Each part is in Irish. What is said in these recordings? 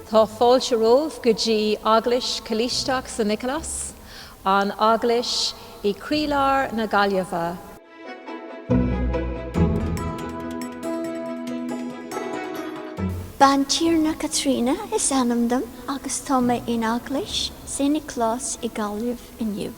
Tá fáilte romhaibh go dtí Eaglais Choláisteach San Nioclás, an eaglais i gcroílár na Gaillimhe. Bantiarna Caitríona is ainm dom agus tá mé in Eaglais San Nioclás i Gaillimh. inniu.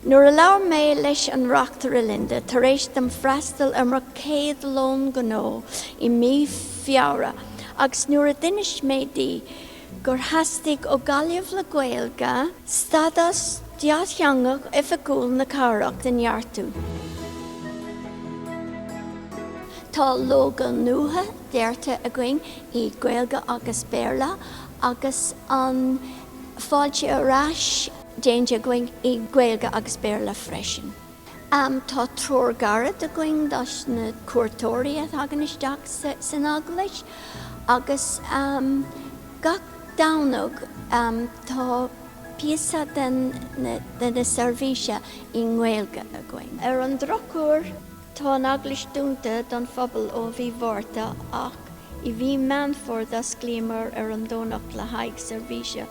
Nuair a labhair mé leis an Reachtaire Linda tar éis dom freastal ar mo chéad lón gnó i mí Feabhra agus nuair a d'inis mé di gur theastaigh ó Ghaillimh le Gaeilge stadás dátheangach oifigiúil na cathrach a neartú. Tá lógó nua deartha againn i nGaeilge agus Béarla agus an fáilte arais. déanta againn i nGaeilge agus Béarla freisin. Tá treoir ghairid againn do na cuairteoirí a thagann isteach san Eaglais agus gach Domhnach tá píosa den tseirbhís i nGaeilge againn. Ar an drochuair. Tá an eaglais dúnta don phobal ó mhí Mhárta ach i mhí Meán Fómhair d'osclaíomar ar an Domhnach le haghaidh seirbhíse.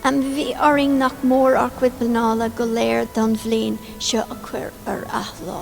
Bhí orainn nach mór ár gcuid pleanála go léir don bhliain seo a chur ar athlá.